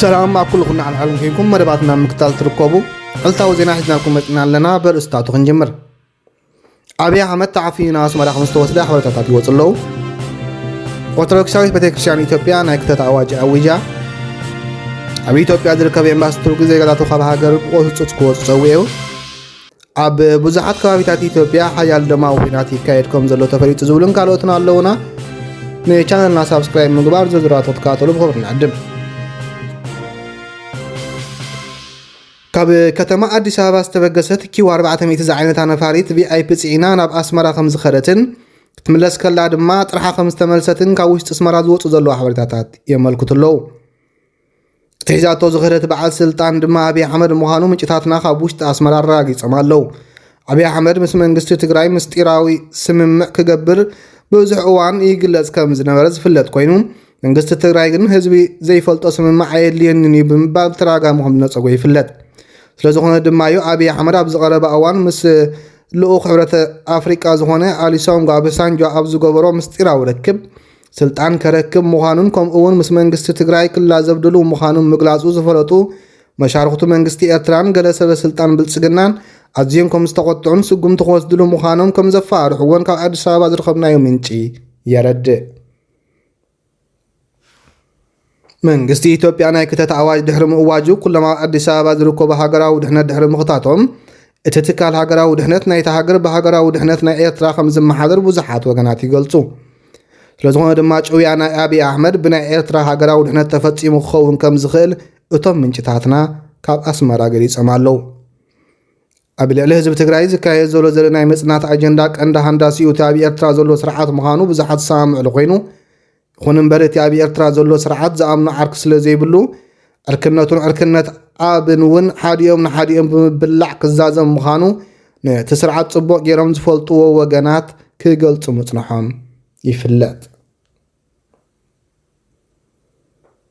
ሰላም ኣብ ኩሉ ኩና ዓለም ኮይንኩም መደባትና ምክታል ትርከቡ ዕልታዊ ዜና ሒዝናልኩም መፅና ኣለና በርእስታቱ ክንጅምር ኣብይ ኣሕመድ ተዓፍዩ ናብ ኣስመራ ከም ዝተወስደ ሓበሬታታት ይወፁ ኣለዉ ኦርቶዶክሳዊት ቤተክርስትያን ኢትዮጵያ ናይ ክተት ኣዋጅ ኣዊጃ ኣብ ኢትዮጵያ ዝርከብ ኤምባሲ ቱርኪ ዜጋታቱ ካብ ሃገር ብቆፅፁፅ ክወፁ ፀዊዑ ኣብ ብዙሓት ከባቢታት ኢትዮጵያ ሓያል ደማዊ ኲናት ይካየድ ከም ዘሎ ተፈሊጡ ዝብሉን ካልኦትን ኣለውና። ንቻነልና ሳብስክራይብ ምግባር ዝርዝራቶ ትከታተሉ ብኽብሪ ንዕድም። ካብ ከተማ ኣዲስ ኣበባ ዝተበገሰት ኪው 400 ዝዓይነታ ነፋሪት ቪኣይፒ ፅዒና ናብ ኣስመራ ከም ዝኸደትን ክትምለስ ከላ ድማ ጥርሓ ከም ዝተመልሰትን ካብ ውሽጢ ኣስመራ ዝወፁ ዘለዉ ሓበሬታታት የመልክቱ ኣለዉ። እቲ ሒዛቶ ዝኸደት በዓል ስልጣን ድማ ኣብይ ኣሕመድ ምዃኑ ምንጭታትና ካብ ውሽጢ ኣስመራ ኣረጋጊፆም ኣለው። ኣብይ ኣሕመድ ምስ መንግስቲ ትግራይ ምስጢራዊ ስምምዕ ክገብር ብዙሕ እዋን ይግለጽ ከም ዝነበረ ዝፍለጥ ኮይኑ መንግስቲ ትግራይ ግን ህዝቢ ዘይፈልጦ ስምምዕ ኣየድልየንን እዩ ብምባል ብተደጋጋሚ ከም ዝነፀጎ ይፍለጥ። ስለዝኾነ ድማ እዩ ኣብይ ኣሕመድ ኣብ ዝቐረበ እዋን ምስ ልኡኽ ሕብረተ ኣፍሪቃ ዝኾነ ኣሊሶንጎ ኣበሳንጆ ኣብ ዝገበሮ ምስጢራዊ ርክብ ስልጣን ከረክብ ምዃኑን ከምኡ እውን ምስ መንግስቲ ትግራይ ክላዘብ ድሉው ምዃኑን ምግላፁ ዝፈለጡ መሻርኽቱ መንግስቲ ኤርትራን ገለ ሰበ ስልጣን ብልፅግናን ኣዝዮም ከም ዝተቖጥዑን ስጉምቲ ክወስድሉ ምዃኖም ከም ዘፈራርሕዎን ካብ ኣዲስ ኣበባ ዝረኸብናዮ ምንጪ የረድእ። መንግስቲ ኢትዮጵያ ናይ ክተት ኣዋጅ ድሕሪ ምእዋጁ ኩሎም ኣብ ኣዲስ ኣበባ ዝርከቡ ሃገራዊ ድሕነት ድሕሪ ምኽታቶም እቲ ትካል ሃገራዊ ድሕነት ናይታ ሃገር ብሃገራዊ ድሕነት ናይ ኤርትራ ከም ዝመሓደር ብዙሓት ወገናት ይገልጹ። ስለዝኾነ ድማ ጭውያ ናይ ኣብዪ ኣሕመድ ብናይ ኤርትራ ሃገራዊ ድሕነት ተፈጺሙ ክኸውን ከም ዝኽእል እቶም ምንጭታትና ካብ ኣስመራ ገሊጾም ኣለዉ። ኣብ ልዕሊ ህዝቢ ትግራይ ዝካየድ ዘሎ ዘለ ናይ ምጽናት ኣጀንዳ ቀንዲ ሃንዳሲኡ እቲ ኣብ ኤርትራ ዘሎ ስርዓት ምዃኑ ብዙሓት ዝሰማምዕሉ ኮይኑ ይኹን እምበር እቲ ኣብ ኤርትራ ዘሎ ስርዓት ዝኣምኖ ዓርኪ ስለ ዘይብሉ፣ ዕርክነቱን ዕርክነት ኣብን እውን ሓዲኦም ንሓዲኦም ብምብላዕ ክዛዘም ምዃኑ ነቲ ስርዓት ጽቡቕ ገይሮም ዝፈልጡዎ ወገናት ክገልጹ ምጽንሖም ይፍለጥ።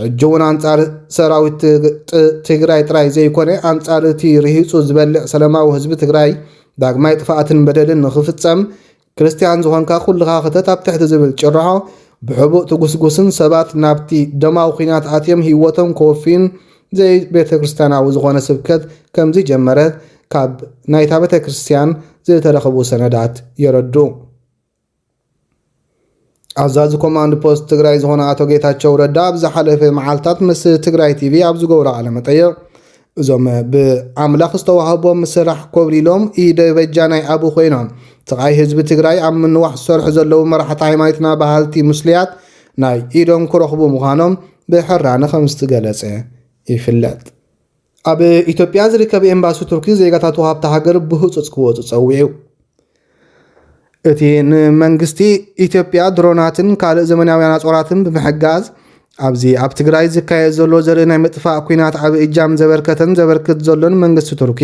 ሕጂ እውን ኣንፃር ሰራዊት ትግራይ ጥራይ ዘይኮነ ኣንፃር እቲ ርሂፁ ዝበልዕ ሰለማዊ ህዝቢ ትግራይ ዳግማይ ጥፍኣትን በደልን ንኽፍፀም ክርስትያን ዝኾንካ ኩልኻ ክተት ኣብ ትሕቲ ዝብል ጭርሖ ብሕቡእ ትጉስጉስን ሰባት ናብቲ ደማዊ ኩናት ኣትዮም ህይወቶም ከወፍዩን ዘይቤተ ክርስትያናዊ ዝኾነ ስብከት ከምዚ ጀመረት ካብ ናይታ ቤተ ክርስትያን ዝተረኽቡ ሰነዳት የረድኡ። ኣዛዚ ኮማንድ ፖስት ትግራይ ዝኾነ ኣቶ ጌታቸው ረዳ ኣብ ዝሓለፈ መዓልታት ምስ ትግራይ ቲቪ ኣብ ዝገብሮ ቃለመጠይቕ እዞም ብኣምላኽ ዝተዋህቦም ስራሕ ኮብሊሎም ኢደ በጃ ናይ ኣቡ ኮይኖም ስቓይ ህዝቢ ትግራይ ኣብ ምንዋሕ ዝሰርሑ ዘለዉ መራሕቲ ሃይማኖትና በሃልቲ ሙስልያት ናይ ኢዶም ክረኽቡ ምዃኖም ብሕራነ ከም ዝተገለጸ ይፍለጥ። ኣብ ኢትዮጵያ ዝርከብ ኤምባሲ ቱርኪ ዜጋታቱ ሃብቲ ሃገር ብህፁፅ ክወፁ ፀዊዑ። እቲ ንመንግስቲ ኢትዮጵያ ድሮናትን ካልእ ዘመናውያን ኣፅዋራትን ብምሕጋዝ ኣብዚ ኣብ ትግራይ ዝካየድ ዘሎ ዘርኢ ናይ ምጥፋእ ኩናት ዓብይ እጃም ዘበርከተን ዘበርክት ዘሎን መንግስቲ ቱርኪ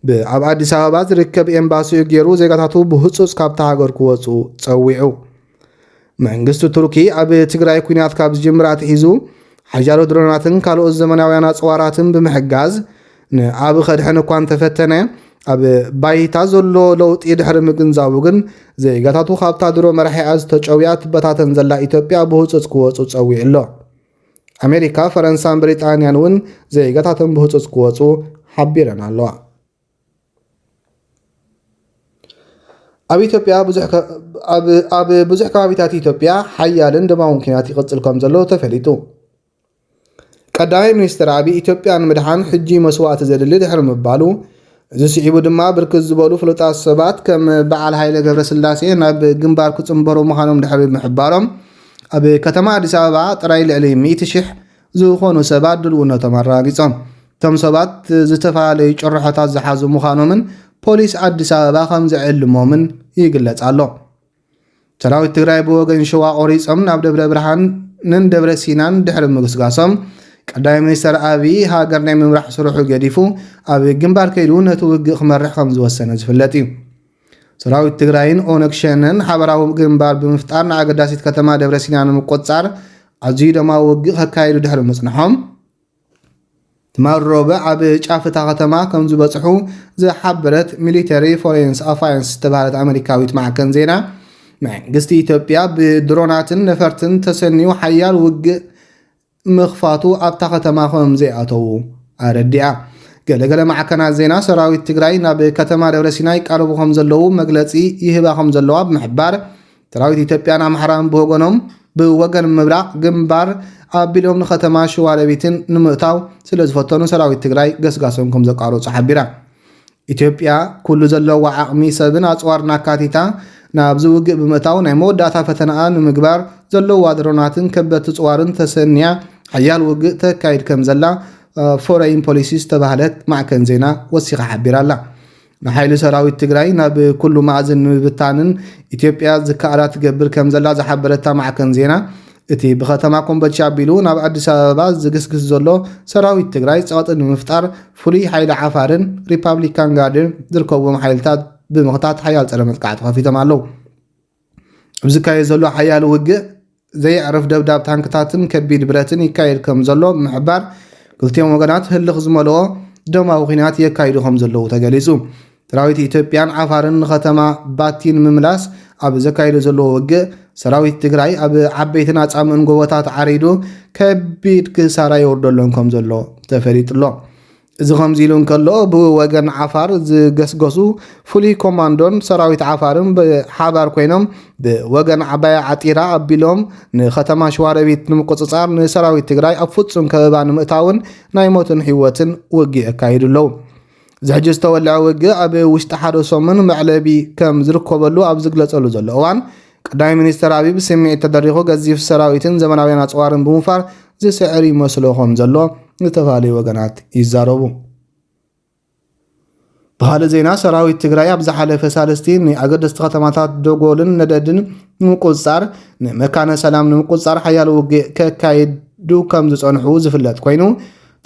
ብኣብ ኣዲስ ኣበባ ዝርከብ ኤምባሲኡ ገይሩ ዜጋታቱ ብህፁፅ ካብታ ሃገር ክወፁ ፀዊዑ። መንግስቲ ቱርኪ ኣብ ትግራይ ኩናት ካብ ዝጅምር ኣትሒዙ ሓያሎ ድሮናትን ካልኦት ዘመናውያን ኣፅዋራትን ብምሕጋዝ ንኣብ ከድሕን እኳ እንተፈተነ ኣብ ባይታ ዘሎ ለውጢ ድሕሪ ምግንዛቡ ግን ዜጋታቱ ካብታ ድሮ መራሒኣ ዝተጨውያ ትበታተን ዘላ ኢትዮጵያ ብህፁፅ ክወፁ ፀዊዑ ኣሎ ኣሜሪካ ፈረንሳን ብሪጣንያን እውን ዜጋታተን ብህፁፅ ክወፁ ሓቢረን ኣለዋ ኣብ ብዙሕ ከባቢታት ኢትዮጵያ ሓያልን ደማውን ኲናት ይቕፅል ከምዘሎ ተፈሊጡ። ቀዳማይ ሚኒስትር ኣቢይ ኢትዮጵያ ንምድሓን ሕጂ መስዋእቲ ዘድሊ ድሕሪ ምባሉ፣ እዚ ስዒቡ ድማ ብርክት ዝበሉ ፍሉጣት ሰባት ከም በዓል ሃይለ ገብረስላሴ ናብ ግንባር ክፅምበሩ ምዃኖም ድሕሪ ምሕባሮም ኣብ ከተማ ኣዲስ ኣበባ ጥራይ ልዕሊ ሚእቲ ሽሕ ዝኾኑ ሰባት ድልውነቶም ኣረጋጊፆም። እቶም ሰባት ዝተፈላለዩ ጭርሖታት ዝሓዙ ምዃኖምን ፖሊስ ኣዲስ ኣበባ ከምዝዕልሞምን ይግለፅ ኣሎ። ሰራዊት ትግራይ ብወገን ሸዋ ቆሪፆም ናብ ደብረ ብርሃንን ደብረ ሲናን ድሕሪ ምግስጋሶም ቀዳማይ ሚኒስተር ኣብዪ ሃገር ናይ ምምራሕ ስርሑ ገዲፉ ኣብ ግንባር ከይዱ ነቲ ውግእ ክመርሕ ከምዝወሰነ ዝፍለጥ እዩ። ሰራዊት ትግራይን ኦነግ ሸነን ሓበራዊ ግንባር ብምፍጣር ንኣገዳሲት ከተማ ደብረሲና ንምቆፃር ኣዝዩ ደማዊ ውግእ ከካይዱ ድሕሪ ምፅንሖም ትማል ሮብዕ ኣብ ጫፍ እታ ከተማ ከም ዝበጽሑ ዝሓበረት ሚሊተሪ ፎሬንስ ኣፋያንስ ዝተባሃለት ኣመሪካዊት ማዕከን ዜና መንግስቲ ኢትዮጵያ ብድሮናትን ነፈርትን ተሰንዩ ሓያል ውግእ ምኽፋቱ ኣብታ ከተማ ከምዘይኣተዉ ኣረዲኣ። ገለ ገለ ማዕከናት ዜና፣ ሰራዊት ትግራይ ናብ ከተማ ደብረሲና ይቃረቡ ከምዘለዉ መግለጺ ይህባ ከምዘለዋ ብምሕባር፣ ሰራዊት ኢትዮጵያን ኣምሓራን ብወገኖም ብወገን ምብራቕ ግንባር ኣቢሎም ንከተማ ሽዋሮቢትን ንምእታው ስለዝፈተኑ ሰራዊት ትግራይ ገስጋሶም ከምዘቋረጹ ሓቢራ። ኢትዮጵያ ኩሉ ዘለዋ ዓቕሚ ሰብን ኣጽዋርን ኣካቲታ ናብዚ ውግእ ብምእታው ናይ መወዳእታ ፈተናኣ ንምግባር ዘለዋ ድሮናትን ከበድቲ ጽዋርን ተሰንያ ሓያል ውግእ ተካይድ ከም ዘላ ፎረይን ፖሊሲ ዝተባህለት ማዕከን ዜና ወሲኻ ሓቢራ ኣላ። ንሓይሊ ሰራዊት ትግራይ ናብ ኩሉ ማእዝን ንምብታንን ኢትዮጵያ ዝከኣላ ትገብር ከም ዘላ ዝሓበረታ ማዕከን ዜና እቲ ብከተማ ኮምቦልቻ ኣቢሉ ናብ ኣዲስ ኣበባ ዝግስግስ ዘሎ ሰራዊት ትግራይ ፀቕጢ ንምፍጣር ፍሉይ ሓይሊ ዓፋርን ሪፓብሊካን ጋርድን ዝርከብዎም ሓይልታት ብምኽታት ሓያል ፀረ መጥቃዕቲ ከፊቶም ኣለው። ኣብ ዝካየድ ዘሎ ሓያል ውግእ ዘየዕርፍ ደብዳብ ታንክታትን ከቢድ ብረትን ይካየድ ከም ዘሎ ብምሕባር ክልቲኦም ወገናት ህልኽ ዝመልኦ ደማዊ ኲናት የካይዱ ከም ዘለዉ ተገሊጹ። ሰራዊት ኢትዮጵያን ዓፋርን ንከተማ ባቲ ንምምላስ ኣብ ዘካይዶ ዘለዎ ውግእ ሰራዊት ትግራይ ኣብ ዓበይትን ኣፃምእን ጎቦታት ዓሪዱ ከቢድ ክሳራ የውርደሎም ከም ዘሎ ተፈሊጡ ኣሎ። እዚ ከምዚ ኢሉ እንከሎ ብወገን ዓፋር ዝገስገሱ ፍሉይ ኮማንዶን ሰራዊት ዓፋርን ብሓባር ኮይኖም ብወገን ዓባያ ዓጢራ ኣቢሎም ንከተማ ሸዋረቢት ንምቁፅፃር ንሰራዊት ትግራይ ኣብ ፍፁም ከበባ ንምእታውን ናይ ሞትን ህይወትን ውግእ የካይዱ ኣለዉ። እዚ ሕጂ ዝተወልዐ ውግእ ኣብ ውሽጢ ሓደ ሰሙን መዕለቢ ከም ዝርከበሉ ኣብ ዝግለጸሉ ዘሎ እዋን፣ ቀዳማይ ሚኒስተር ኣቢይ ብስምዒት ተደሪኹ ገዚፍ ሰራዊትን ዘመናውያን ኣጽዋርን ብምውፋር ዝስዕር ይመስሎ ከም ዘሎ ዝተፈላለዩ ወገናት ይዛረቡ። ብኻልእ ዜና ሰራዊት ትግራይ ኣብ ዝሓለፈ ሳልስቲ ንኣገደስቲ ከተማታት ደጎልን ነደድን ንምቁፅፃር ንመካነ ሰላም ንምቁፅፃር ሓያል ውግእ ከካይዱ ከም ዝፀንሑ ዝፍለጥ ኮይኑ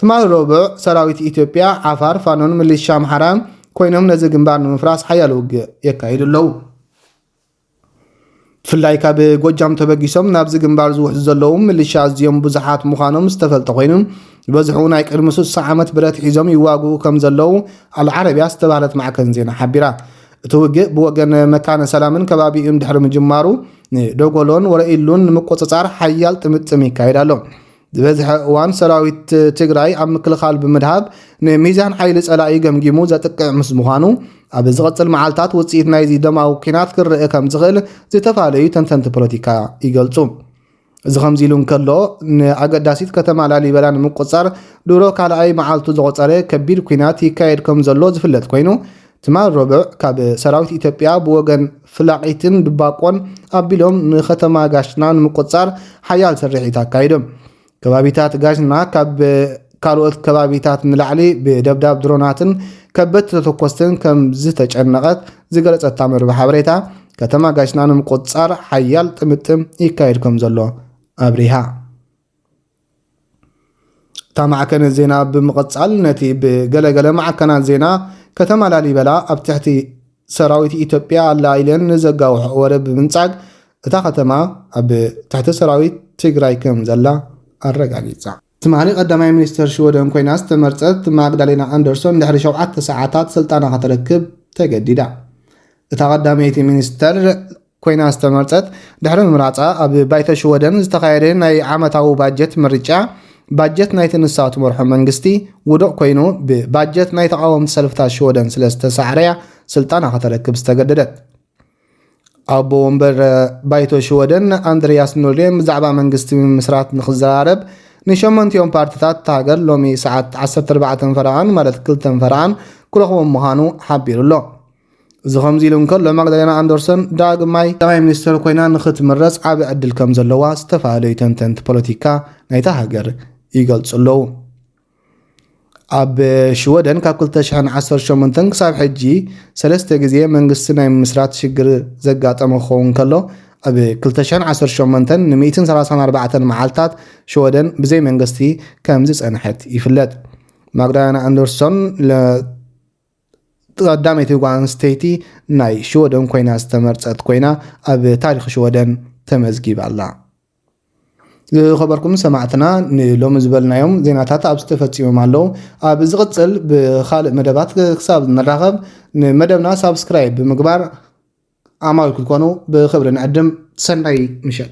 ትማሊ ረቡዕ፣ ሰራዊት ኢትዮጵያ፣ ዓፋር፣ ፋኖን ምልሻ ኣምሓራን ኮይኖም ነዚ ግንባር ንምፍራስ ሓያል ውግእ የካይዱ ኣለዉ። ብፍላይ ካብ ጎጃም ተበጊሶም ናብዚ ግንባር ዝውሕዙ ዘለዉ ምልሻ ኣዝዮም ብዙሓት ምዃኖም ዝተፈልጠ ኮይኑ ዝበዝሑ ናይ ቅድሚ ስሳ ዓመት ብረት ሒዞም ይዋግኡ ከም ዘለዉ ኣልዓረብያ ዝተባህለት ማዕከን ዜና ሓቢራ። እቲ ውግእ ብወገን መካነ ሰላምን ከባቢኡን ድሕሪ ምጅማሩ ንደጎሎን ወረኢሉን ንምቁጽጻር ሓያል ጥምጥም ይካየድ ኣሎ። ዝበዝሐ እዋን ሰራዊት ትግራይ ኣብ ምክልኻል ብምድሃብ ንሚዛን ሓይሊ ጸላኢ ገምጊሙ ዘጥቅዕ ምስ ምዃኑ ኣብ ዝቕጽል መዓልታት ውጽኢት ናይዚ ደማዊ ኲናት ክረአ ከም ዝኽእል ዝተፈላለዩ ተንተንቲ ፖለቲካ ይገልጹ። እዚ ከምዚ ኢሉ እንከሎ ንኣገዳሲት ከተማ ላሊበላ ንምቁፅፃር ድሮ ካልኣይ መዓልቱ ዘቑፀረ ከቢድ ኩናት ይካየድ ከም ዘሎ ዝፍለጥ ኮይኑ ትማል ረቡዕ ካብ ሰራዊት ኢትዮጵያ ብወገን ፍላቒትን ድባቆን ኣቢሎም ንከተማ ጋሽና ንምቁፅፃር ሓያል ስርሒት ኣካይዶም። ከባቢታት ጋሽና ካብ ካልኦት ከባቢታት ንላዕሊ ብደብዳብ ድሮናትን ከበድቲ ተተኮስትን ከም ዝተጨነቐት ዝገለፀታ መርበብ ሓበሬታ ከተማ ጋሽና ንምቁፅፃር ሓያል ጥምጥም ይካየድ ከም ዘሎ ኣብሪሃ። እታ ማዕከነ ዜና ብምቕጻል ነቲ ብገለ ገለ ማዕከናት ዜና ከተማ ላሊበላ ኣብ ትሕቲ ሰራዊት ኢትዮጵያ ኣላ ኢለን ንዘጋውሐኦ ወረ ብምንጻግ እታ ከተማ ኣብ ትሕቲ ሰራዊት ትግራይ ከም ዘላ ኣረጋጊጻ። ትማሊ ቀዳማይ ሚኒስተር ሽወደን ኮይና ዝተመርጸት ማግዳሌና ኣንደርሶን ድሕሪ ሸውዓተ ሰዓታት ስልጣና ከተረክብ ተገዲዳ። እታ ቀዳመይቲ ሚኒስተር ኮይና ዝተመርጸት፣ ድሕሪ ምምራጻ ኣብ ባይቶ ሽወደን ዝተኻየደ ናይ ዓመታዊ ባጀት ምርጫ፣ ባጀት ናይቲ ንሳ ትመርሖ መንግስቲ ውዱቕ ኮይኑ ብባጀት ናይ ተቓወምቲ ሰልፍታት ሽወደን ስለ ዝተሳዕረ'ያ ስልጣና ከተረክብ ዝተገደደት። ኣቦ ወንበር ባይቶ ሽወደን ኣንድርያስ ኖርዴን ብዛዕባ መንግስቲ ምምስራት ንክዘራረብ ንሸመንቲኦም ፓርትታት እታ ሃገር ሎሚ ሰዓት 14 ፈረቓን ማለት ክልተን ፈረቓን ክረኽቦም ምዃኑ ሓቢሩ ኣሎ። እዚ ከምዚ ኢሉ እንከሎ ማግዳሌና ኣንደርሶን ዳግማይ ቀዳማይ ሚኒስተር ኮይና ንኽትምረጽ ዓቢ ዕድል ከም ዘለዋ ዝተፈላለዩ ተንተንቲ ፖለቲካ ናይታ ሃገር ይገልጹ ኣለዉ። ኣብ ሽወደን ካብ 2018 ክሳብ ሕጂ ሰለስተ ግዜ መንግስቲ ናይ ምምስራት ሽግር ዘጋጠመ ክኸውን ከሎ ኣብ 2018 ን134 መዓልታት ሽወደን ብዘይ መንግስቲ ከም ዝጸንሐት ይፍለጥ። ማግዳና ኣንደርሶን ቀዳመይቲ ጓል ኣንስተይቲ ናይ ሽወደን ኮይና ዝተመርጸት ኮይና ኣብ ታሪኽ ሽወደን ተመዝጊባ ኣላ። ዝኸበርኩም ሰማዕትና ንሎሚ ዝበልናዮም ዜናታት ኣብዚ ተፈጺሞም ኣለዉ። ኣብ ዝቕጽል ብኻልእ መደባት ክሳብ ንራኸብ ንመደብና ሳብስክራይብ ብምግባር ኣማዊል ክትኮኑ ብኽብሪ ንዕድም። ሰናይ ምሸት።